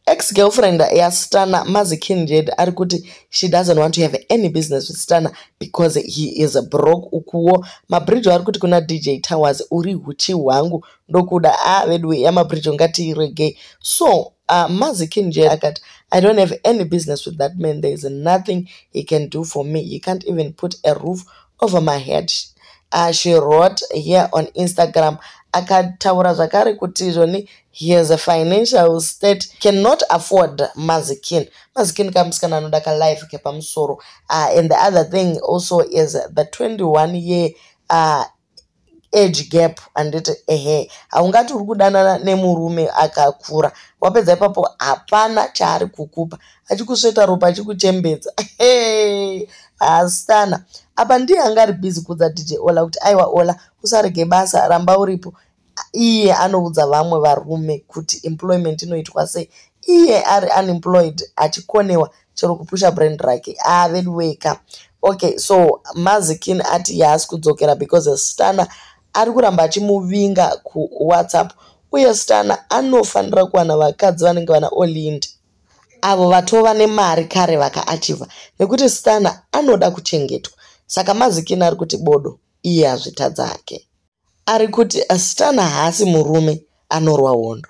ex girlfriend yasitana mazikinjed ari kuti she doesn't want to have any business with sitana because he is a broke ukuwo mabridge ari kuti kuna dj towers uri huchi hwangu ndokuda a ah, vedu yamabridge ngatiiregei so uh, mazikinjed akati i don't have any business with that man there is nothing he can do for me he can't even put a roof over my head uh, she wrote here on instagram akataura zvakare kuti izvoni He has a financial state cannot afford mazikin mazikin kamusikana anoda kalife kepamusoro uh, and the other thing also is the 21 year uh, age gap handiti ehe haungati uri kudanana nemurume akakura wapedza ipapo hapana chaari kukupa achikusveta ropa achikuchembedza ehe haasitana apa ndiye anga ari bhizi kudza dj ola kuti aiwa ola usarege basa ramba uripo iye anoudza vamwe varume kuti employment inoitwa sei iye ari unemployed achikonewa chero kupusha brand rake ah veduweka okay so mazikin ati yaasi kudzokera because stana ari kuramba achimuvinga kuwhatsapp uye stana anofanira kuwana vakadzi vanenge vana olind avo vatova nemari kare vakaachiva nekuti stana anoda kuchengetwa saka mazikin ari kuti bodo iye azvitadzake Ari kuti Stan haasi murume anorwa hondo.